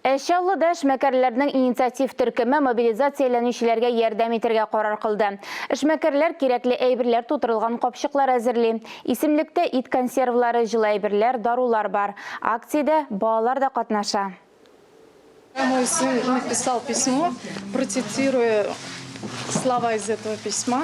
Ә Чаллы да эшмәкәрләрнең инициатив төркеме мобилизацияләнүчеләргә ярдәм итергә карар кылды. Эшмәкәрләр кирәкле әйберләр тутырылган капчыклар әзерли. Исемлектә ит консервлары, җылы әйберләр, дарулар бар. Акциядә балалар да катнаша. Мой сын написал письмо, процитируя слова из этого письма.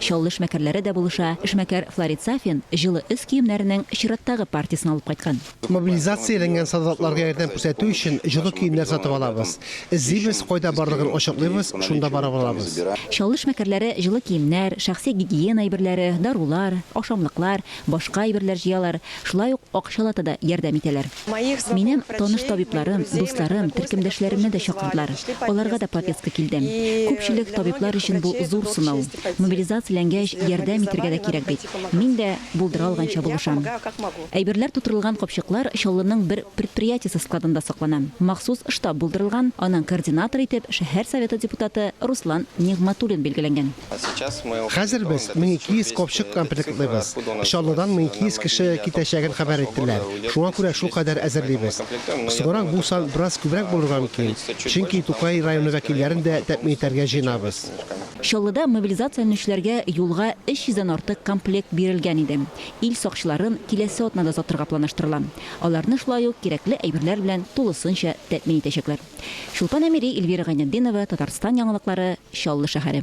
Чаллы эшмәкәрләре дә булыша. Эшмәкәр Фларит Сафин җылы өс киемнәренең чираттагы партиясен алып кайткан. Мобилизацияләнгән солдатларга ярдәм күрсәтү өчен җылы киемнәр сатып алабыз. Эзлибез, кайда барлыгын ачыклыйбыз, шунда барып алабыз. Чаллы эшмәкәрләре җылы киемнәр, шәхси гигиена әйберләре, дарулар, ашамлыклар, башка әйберләр җыялар, шулай ук акчалата да ярдәм итәләр. Минем таныш табибларым, дусларым, төркемдәшләремне дә чакырдылар, аларга да повестка килде. Күпчелек табиблар өчен бу зур сынау. Мобилизацияләнгәч, ярдәм итергә дә кирәк бит. Мин дә булдыра алганча булышам. Әйберләр тутырылган капчыклар Чаллының бер предприятиесе складында саклана. Махсус штаб булдырылган, аның координаторы итеп шәһәр Советы депутаты Руслан Нигъматуллин билгеләнгән. Хәзер без 1200 копчык комплектлыйбыз. Чаллыдан 1200 кеше китәчәген хәбәр иттеләр, шуңа күрә шулкадәр әзерлибез. Соңрак бу сан бераз күбрәк булырга мөмкин, чөнки Тукай районы вәкилләрен дә тәэмин итәргә җыенабыз. Чаллыда мобилизацияләнүчеләргә юлга 300 дән артык комплект бирелгән иде. Ил сакчыларын киләсе атнада озатырга планлаштырыла. Аларны шулай ук кирәкле әйберләр белән тулысынча тәэмин итәчәкләр. Чулпан Әмири, Эльвира Гайнетдинова, Татарстан яңалыклары, Чаллы шәһәре.